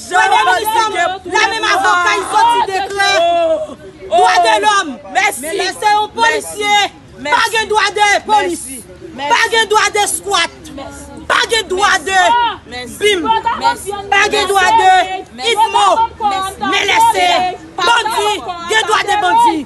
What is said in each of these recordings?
Premye minis la menm, la menm avoka li soti deklè dwa de lòm, men lè se yon polisye, pa gen dwa de polis, pa gen dwa de skwat, pa gen dwa de bim, pa gen dwa de idmo, men lè se bandi, gen dwa de bandi.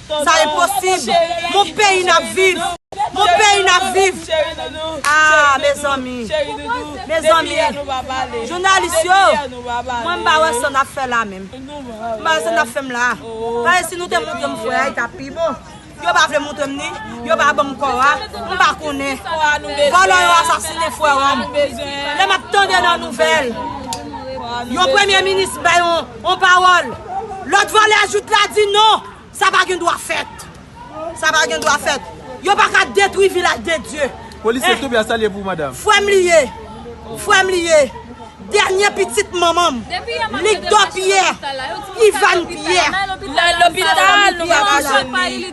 Sa enposib Mon peyi nap viv Mon peyi nap viv Ahh mezanmi Mezanmi Jounalis yo Mwen m pa wè sa nap fè la menm M pa wè sa nap fèm la Paske si nou te moutrem fwe a li tap pi bon Yo pa vle moutrem ni Yo pa banm kò a M pa konnen Vòlò yo asasine fwe a Lè map tande nan nouvèl Yon premye minis bay yon On pawòl! Lòt vòlè a jout la di non! Sa pa gen dwa fèt! Sa pa gen dwa fèt! Yo pa ka detwi Vilaj de Dye! Polisye Toby a salye pou madam. Frè m li ye! Frè m li ye! Dènye pitit manman m! Lik Dò Pyè! Ivan Pyè! Nan lopital nou pa ka jwenn li!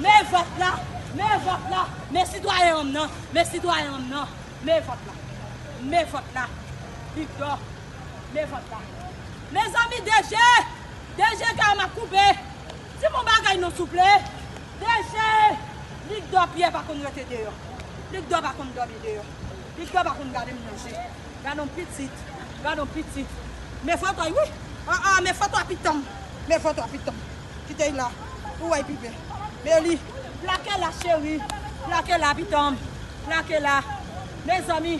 Me vòt la! Me vòt la! Me sitwayen an m nan! Me sitwayen an m nan! Me vòt la! Me vòt la! Victor! Me vòt la! Mezanmi DG! DG kè a m ap koupe! Di m yon bagay non souple! DG! Victor Pierre pa konn rete deyò. Victor pa konn dòmi deyò. Victor pa konn gade m nan je. Gade yon pitit! Gade yon pitit! Me vòt la wi! An an! Me vòt la pitanm! Me vòt la pitanm! Kitey la pou wè pi bè. Meli. Plake la cheri plake la pitanm plake la mezanmi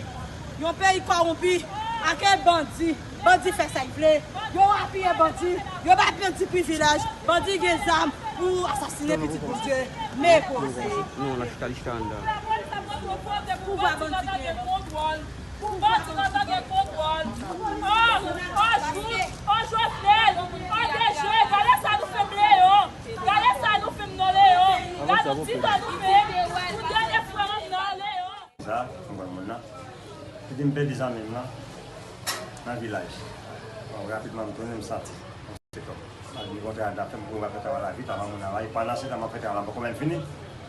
yon peyi kowonpi ake bandi bandi fè say vle yo apiye bandi yo bay bandi privilèj bandi gen zam pou asasine pitit bondye me poze. Oh Jovenel oh Dejeu gade sa nou fem le yo gade sa nou fem nan le yo gad yon ti tan nou fé pou dènye fwa an nan le yo. Konsa m wè moun nan. Li di m pèdi zanmi m lan nan vilaj. Bon rapidman m tounen m santi yon ti pè tò. M al vin kontre ak zafè m pou m ka fè travay la vit avan moun nan la e pandansetan m ap fè travay la m poko menm fini.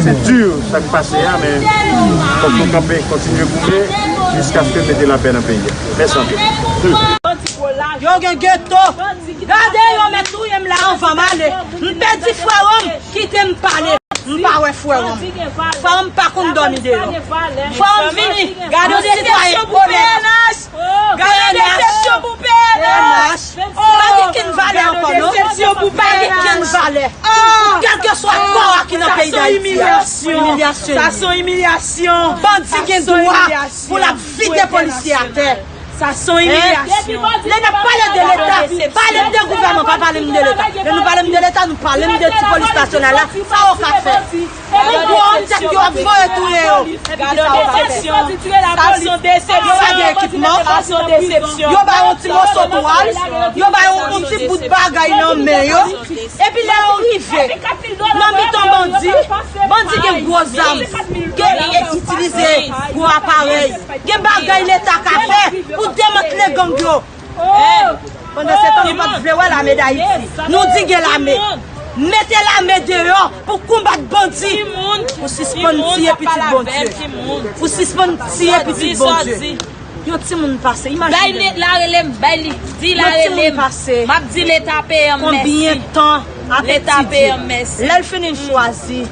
Se dur sa k pase a men fòk nou kanpe kontinye goumen jiskaske mete lapè nan peyi a. Mèsi anpil. Yo gen geto. Gade yo met touyem la anvan m ale. M pedi freo m kite m pale. M pa we freo m. Freo m pa konn domi deyo. Freo m vini. Gade yon sitwayen onèt. Gade desepsyon pou pnh! Ou pa gen kenn valè ankò non! Ou pa gen kenn valè! Kèlkeswa kò a ki nan peyi Dayiti a! Sa son imilyasyon! Bandi gen dwa pou l ap vide polisye atè! Lè n ap pale de leta, pale m de gouvèman pa pale m de leta! Lè nou pale m de leta, nou pale m de ti polis nasyonal la, sa yo ka fè? Gadon desepsyon pou misye. Gadon desepsyon. Sa se yon desepsyon. Sa gen ekipman. Sa se yon desepsyon. Yo bay yon ti moso twal. Yo bay yon ti bout bagay nan men yo. Epi lè yo rive. Nan mitan bandi. Bandi gen gwo zam. Yo itilize gwo aparèy. Gen bagay leta ka fè. Pou demantle gang yo. Pandansetan nou pat vle wè lame dayiti nou di gen lame mete lame deyò pou konbat bandi pou sispann tiye pitit bondye pou sispann tiye pitit bondye yon timoun pase imajine konbyen tan ap etidye lèl fini l chwazi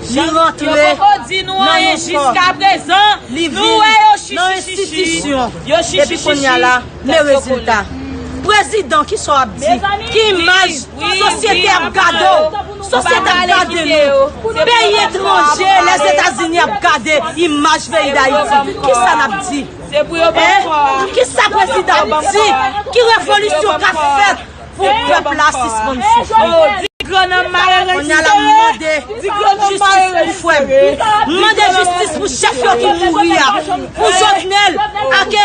Li rantre nan yon kò, li vin nan enstitisyon, epi kounya la, men rezilta. Prezidan, ki sa w ap di? Ki imaj sosyete ap gade w? Sosyete ap gade nou. Peyi etranje, Lèzetazini ap gade imaj peyi Dayiti. Ki sa n ap di? Ki sa prezidan ap di? Ki revolisyon k ap fèt? Pou pèp la sispann soufri. Kounya la m mande jistis pou frè m. M mande jistis pou chèf yo ki mouri a. Pou Jovenel ak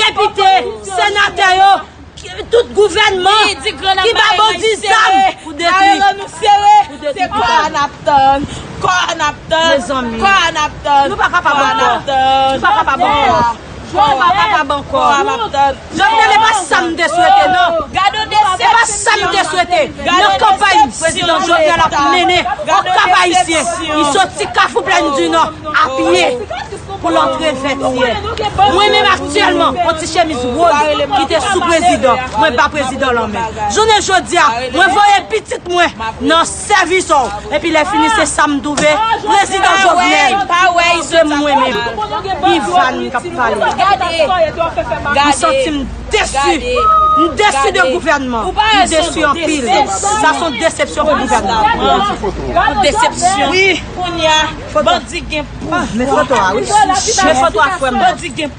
depite, senatè yo, tout gouvènman ki ba bandi zam pou detwi. Pou detwi tout bagay. Mezanmi. Nou pa kapab ankò. Nou pa kapab ankò. Nou pa kapab ankò. Jovenel e pa sa m te swete nan. E pa sa m te swete nan kanpay prezidan Jovenel ap mennen o Kap Ayisyen. Li soti Kafou Plèn di Nò a pye pou l antre Vètyè. Mwen menm aktyèlman on ti chemiz woz ki te sou prezidan mwen ba prezidan lan men. Jounen jodi a mwen voye pitit mwen nan. Sèvis ou. Epi lè fini se sam touve prezidan jovenel se mwen menm Ivan kap pale m santim desu m desu de gouvènman m desu anpil sa son desepsyon pou gouvènman desepsyon wi kounya bandi gen pouvwa men foto a wi men foto a frèm nan.